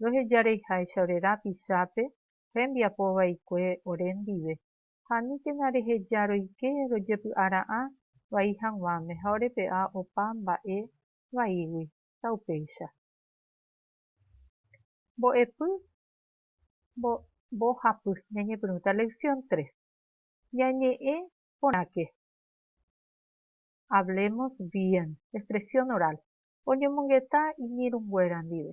roheja reiháicha ore rapichápe rembiapo vaikue ore ndive, ha aníkena reheja roike rojepy'ara'ã vai hag̃uáme ha orepe'a opa mba'e vaígui, taupéicha. Mbo'epy mbohapy ñañepyrũta Lección tres. Ñañe'ẽ porãke Hablemos bien, expresión oral, oñomongeta iñirũnguéra ndive.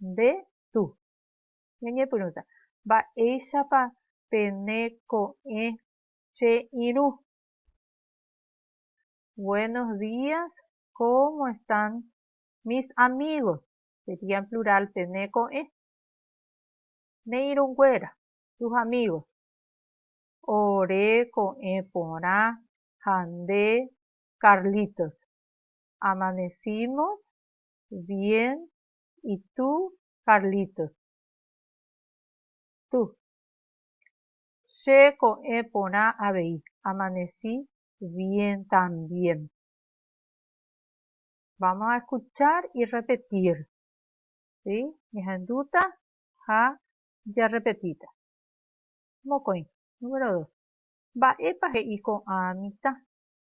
Nde tu. Ñañepyrũta, Mba'éichapa pene ko'ẽ che irũ? Buenos días, cómo están mis amigos? Sería en plural pene ko'ẽ. Ne irũnguéra, tus amigos. Ore ko'ẽ porã ha nde, Carlitos. Amanecimos bien Itu Carlitos. Tú. Che ko'ẽ porã avei, amanecí bien también. Vamos a escuchar y repetir. Si, ñahendúta ha jarrepetíta. Mokõi, número dos. Mba'épa he'i ko'ã mitã?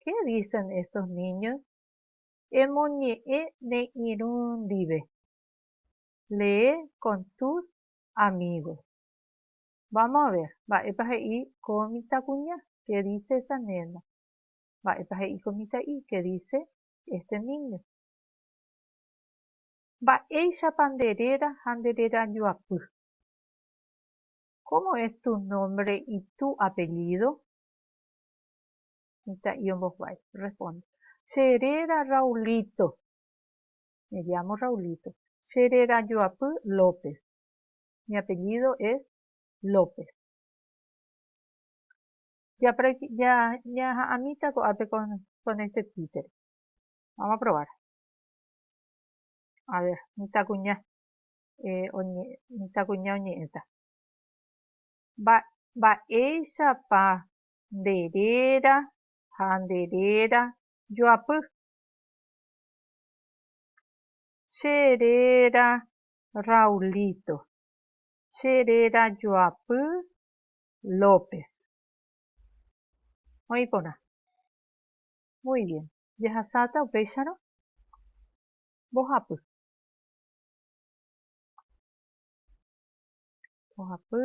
Qué dicen estos niños? Emoñe'ẽ ne irũ ndive. Lee con tus amigos. Vamos a ver mba'épa he'i ko mitãkuña, qué dice esa nena. Mba'épa he'i ko mitã'i, qué dice este niño. Mba'éichapa nde réra ha nde réra joapy. Cómo es tu nombre y tu apellido? mitã'i ombohovái. Respondo, Che réra Raulito. Me llamo Raulito. Che réra joapy López. Mi apellido es López. Ja practi, ja ñaha'ãmíta ko'ápe con, con este títere. Vamos a probar. A ver, mitãkuña. Eh, oñe, mitãkuña oñe'ẽta. Mba, mba'éichapa nde réra ha nde réra joapy. Che réra Raulito, che réra joapy López. Oĩ porã. Muy bien. Jehasáta upéicharõ mbohapy. Mbohapy.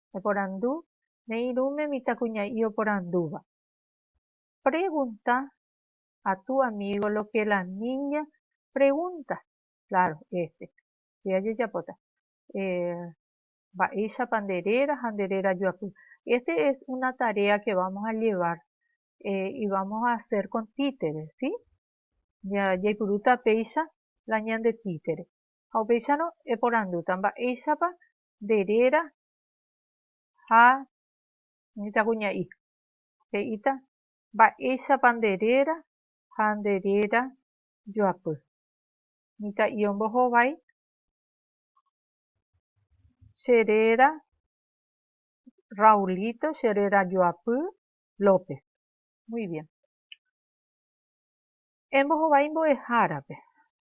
Eporandu ne irũme mitãkuña'i oporandúva. Pregunta a tu amigo lo que la niña pregunta. Claro, este pe ajejapóta. Mba'éichapa nde réra ha nde réra joapy. Este es una tarea que vamos a llevar y vamos a hacer con títere, sí? Jaipurúta péicha la ñande títere. Ha upéicharõ eporandúta mba'éichapa nde réra ha nde jaguña'i. He'íta, Mba'éichapa nde réra ha nde réra joapy. Mitã'i ombohovái che réra Raulito, che réra joapy López. Muy bien. Embohovái mbo'ehárape.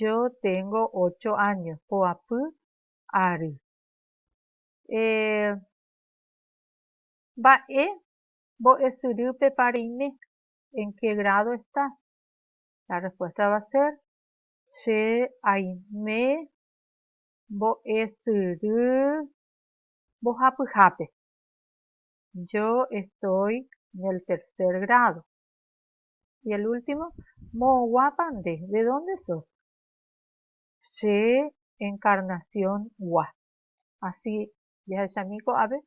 Yo téngo ócho áño poapy ary. Eeh. Mba'e mbo'esyrýpepa reime? En qué grado está? La respuesta va a ser, Che aime mbo'esyry mbohapyhápe. Yo estoy en el tercer grado. Y el último, moõguápa nde, de dónde sos? Che encarnacióngua. Así jahechami ko'ápe,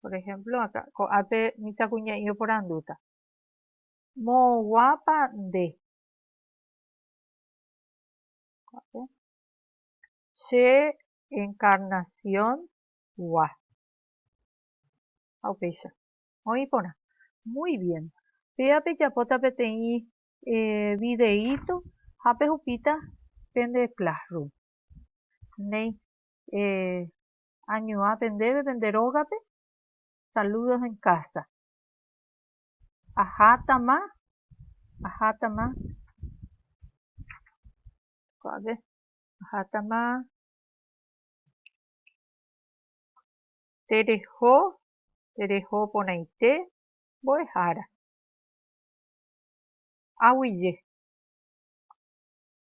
por ejemplo, akã ko'ápe mitãkuña'i oporandúta, Moõguápa nde? Ko'ápe, Che encarnacióngua. Ha upéicha. Oĩ porã. Muy bien. Péva pejapóta peteĩ videíto ha pehupíta pende Classroom. Néi, añuã pendéve pende rógape, saludos en casa. Ahátama, ahátama, ko'ág̃e, ahátama tereho tereho porãite mbo'ehára. Aguije.